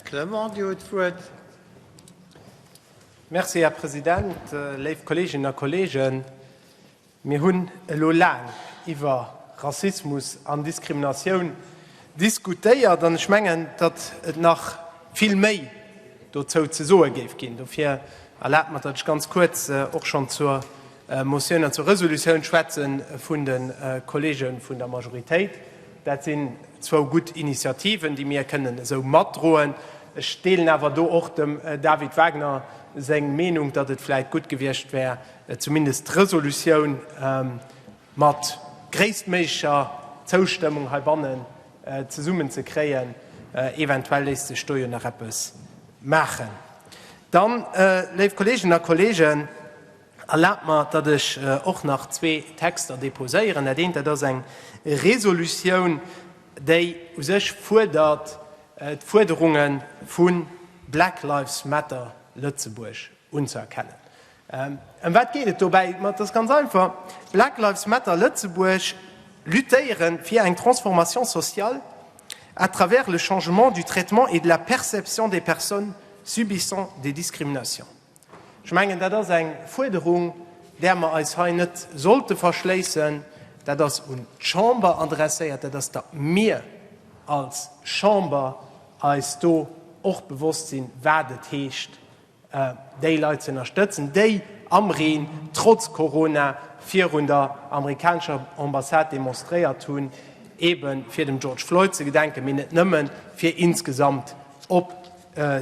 Clement, Dir hutt d'Wuert. Merci, Här President. Léif Kolleeginnen a Kolleegen, mir hunn elo laang iwwer Rassismus an Diskriminatioun diskutéiert an ech mengen, datt et nach vill méi dozou ze soe géif ginn. Dofir erlaabt mer, datt ech ganz kuerz och schonn zur Motioun an zur Resolutioun schwätze vun de Kolleege vun der Majoritéit. Dat sinn zwou gutt Initiativen, déi mir kënnen esou matdroen. Ech deelen awer do och dem David Wagner seng Meenung, datt et vläicht gutt gewiescht wär, zumindest d'Resolutioun mat gréisstméiglecher Zoustëmmung heibannen zesummen ze kréien. Eventuell léisst sech do jo nach eppes maachen. Dann, léif Kolleeginnen a Kolleegen, Erlaabt mer, datt ech och nach zwee Texter déposéieren. Dat eent, dat ass eng Resolutioun, déi u sech fuerdert, d'Fuerderunge vu Black Lives Matter Lëtzebuerg unzëerkennen. Ëm wat geet et dobäi? Et ass ganz einfach, Black Lives Matter Lëtzebuerg luttéiere fir eng Transformation sociale à travers le changement du traitement et de la perception des personnes subissant des discriminations. Ech mengen, dat ass eng Fuerderung, där mer eis hei net sollte verschléissen. Dat ass un d'Chamber adresséiert, dat ass, datt mir als Chamber eis do och bewosst sinn, wat et heescht, déi Leit ze ënnerstëtzen, déi am Reen, trotz Corona, virun der amerikanescher Ambassade demonstréiert hunn, eebe fir dem George Floyd ze gedenken, mee net nëmmen, fir insgesamt op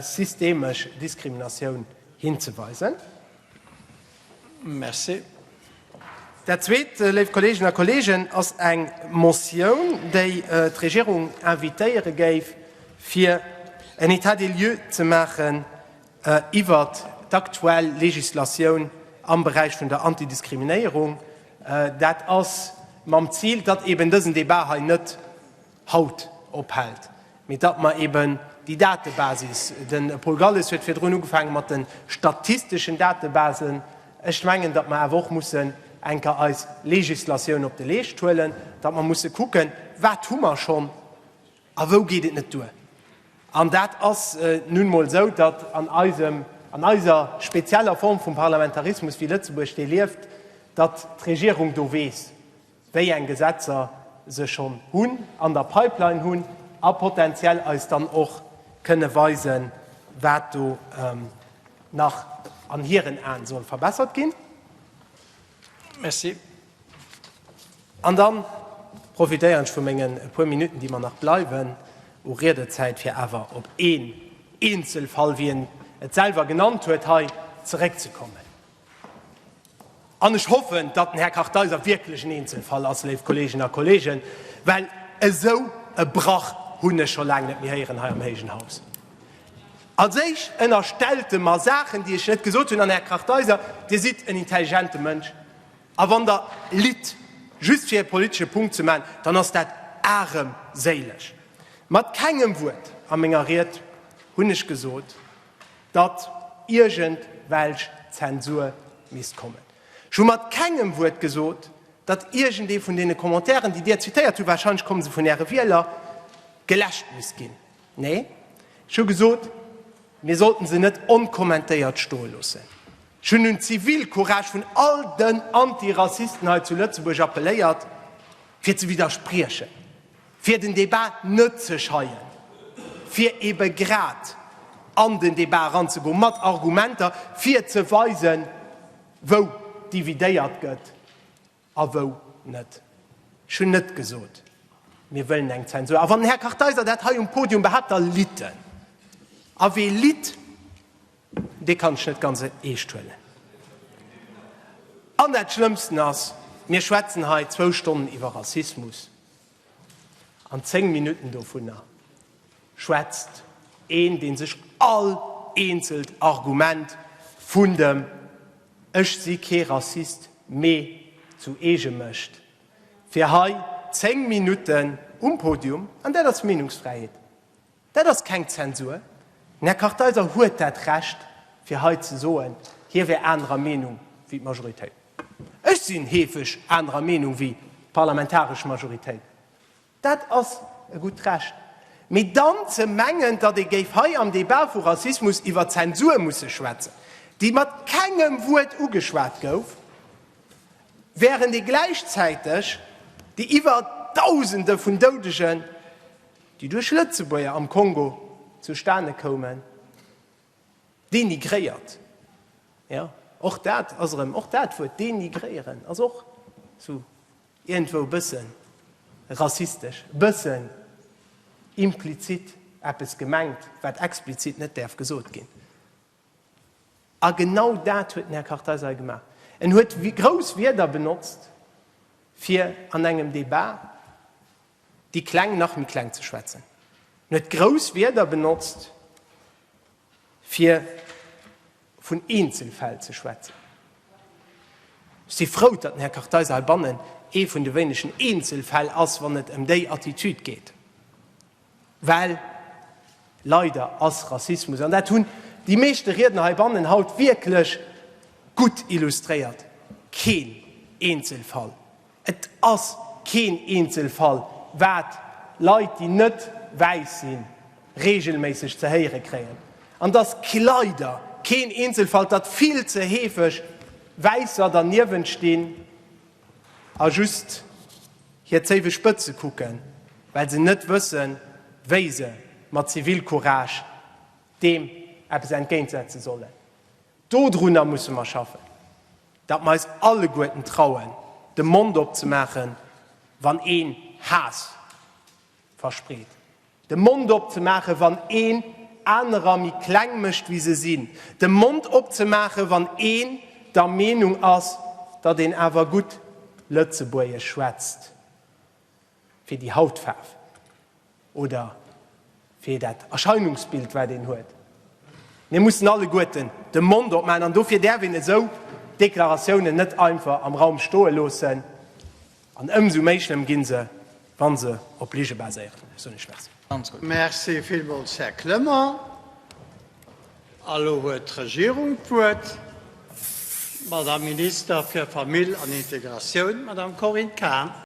systemesch Diskriminatioun hinzeweisen. Merci. Dat Zweet, léif Kolleegen a Kolleegen, ass eng Motioun, déi d'Regierung invitéiere géif, fir en État des lieux ze maachen iwwert d'aktuell Legislatioun am Beräich vun der Antidiskriminéierung. Dat ass mam Zil, datt eeben dësen Debat hei net haut ophält, mee datt mer eben déi Datebasis, de Paul Galles huet virdrun ugefaange mat de statisteschen Datebasen, ech mengen, datt mer awer och mussen eng Kéier eis Legislatioun op de Leescht huelen, datt mer musse kucken, wat hu mer schonn a wou geet et net duer. An dat ass nun emol esou, datt an eisem, an eiser spezieller Form vum Parlamentarismus, wéi Lëtzebuerg dee lieft, datt d'Regierung do weess, wéi eng Gesetzer se schonn hunn, an der Pipeline hunn, a potentiell eis dann och kënne weisen, wat do nach an hiren Aen soll verbessert ginn. Merci. An da profitéieren ech vu menge puer Minutten, déi mer nach bleiwen u Riedezäit, fir awer op een Eenzelfall, wéi en et selwer genannt huet, hei zeréckzekommen. An ech hoffen, datt den Här Kartheiser wierklech en Eenzelfall ass, léif Kolleeginnen a Kolleegen, well esou e Brach hunn ech scho laang net méi héieren hei am héijen Haus. Als Éischt ënnerstellt e mer Saachen, déi ech net gesot hunn. An, Här Kartheiser, Dir sidd en intelligente Mënsch, a wann Der litt, just fir e politesche Punkt ze maachen, dann ass dat aremséileg. Mat kengem Wuert a menger Ried hunn ech gesot, datt iergend welch Zensur misst kommen. Ech hu mat kengem Wuert gesot, datt iergendee vun deene Commentairen, déi Dir zitéiert hutt, wahrscheinlech komme se vun Äre Wieler, geläscht misst ginn. Nee, ech hu gesot, mir sollten se net onkommentéiert stoe loossen. Ech hunn un d'Zivilcourage vun all den Antirassisten hei zu Lëtzebuerg appelléiert, fir ze widderspriechen. Fir den Debat net ze scheien, fir ebe grad an den Debat eranzegoen mat Argumenter, fir ze weisen, wou dividéiert gëtt a wou net. Ech hunn net gesot, mir wëllen eng Zensur. A wann den Här Kartheiser dat hei um Podium behaapt, da litt en. A wee litt, dee kann ech net ganz eescht huelen. An dat Schlëmmsten ass, mir schwätzen hei zwou Stonnen iwwer Rassismus. An 10 Minutten dovunner schwätzt een, dee sech all eenzelt Argument vun dem Ech si kee Rassist, mee zu eege mécht, fir hei 10 Minutten um Podium, an dat ass Meenungsfräiheet, Dat ass keng Zensur. Den Här Kartheiser huet dat Recht, fir hei ze soen, hie wär anerer Meenung wéi d'Majoritéit. Ech sinn heefeg anerer Meenung wéi d'parlamentaresch Majoritéit. Dat ass e gutt Recht. Mee dann ze mengen, datt ee géif hei am Debat vu Rassismus iwwer Zensur musse schwätzen, déi mat kengem Wuert ugeschwat gouf, wärend ee gläichzäiteg déi iwwer Dausende vun Doudegen, déi duerch Lëtzebuerger am Kongo zustane koumen, dénigréiert, jo, och dat ass erëm, och dat Wuert dénigréieren ass och sou iergendwou e bësse rassistesch, e bësse implizit eppes gemengt, wat explizit net däerf gesot ginn. A genau dat huet den Här Kartheiser hei gemaach. En huet grouss Wierder benotzt, fir an engem Debat déi Kleng nach méi kleng ze schwätzen, en huet grouss Wierder benotzt, fir vun Eenzelfäll ze schwätzen. Ech si frou, datt den Här Kartheiser heibannen ee vun de wéinegen Eenzelfäll ass, wann et ëm déi Attitude geet, well leider ass Rassismus, an dat hunn déi meeschte Riedner heibannen haut wierklech gutt illustréiert, keen Eenzelfall. Et ass keen Eenzelfall, wat Leit, déi net wäiss sinn, reegelméisseg ze héiere kréien. An et ass leider keen Eenzelfall, datt vill ze heefeg Wäisser derniewent stinn a just hir Zéiwespëtze kucken, well se net wëssen, wéi se mat Zivilcourage deem eppes entgéintsetze sollen. Dodrunner musse mer schaffen, datt mer eis alleguerten trauen, de Mond opzemaachen, wann een Haass verspreet, de Mond opzemaachen, wann een anerer méi kleng mécht, wéi se sinn, de Mond opzemaachen, wann een der Meenung ass, datt een awer gutt Lëtzebuergesch schwätzt. fir déi Hautfaarf oder fir dat Erscheinungsbild, wat een huet. Mir mussen alleguerten de Mond opmaachen an dofir däerf een esou Deklaratiounen net einfach am Raum stoe loossen an ëmsou méi schlëmm gi se, wa se op Lige baséieren. Ech soen Iech Merci. Merci villmools, Här Clement. A lo huet d'Regierung d'Wuert, d'Madame Minister fir Famill an Integratioun, d'Madame Corinne Cahen.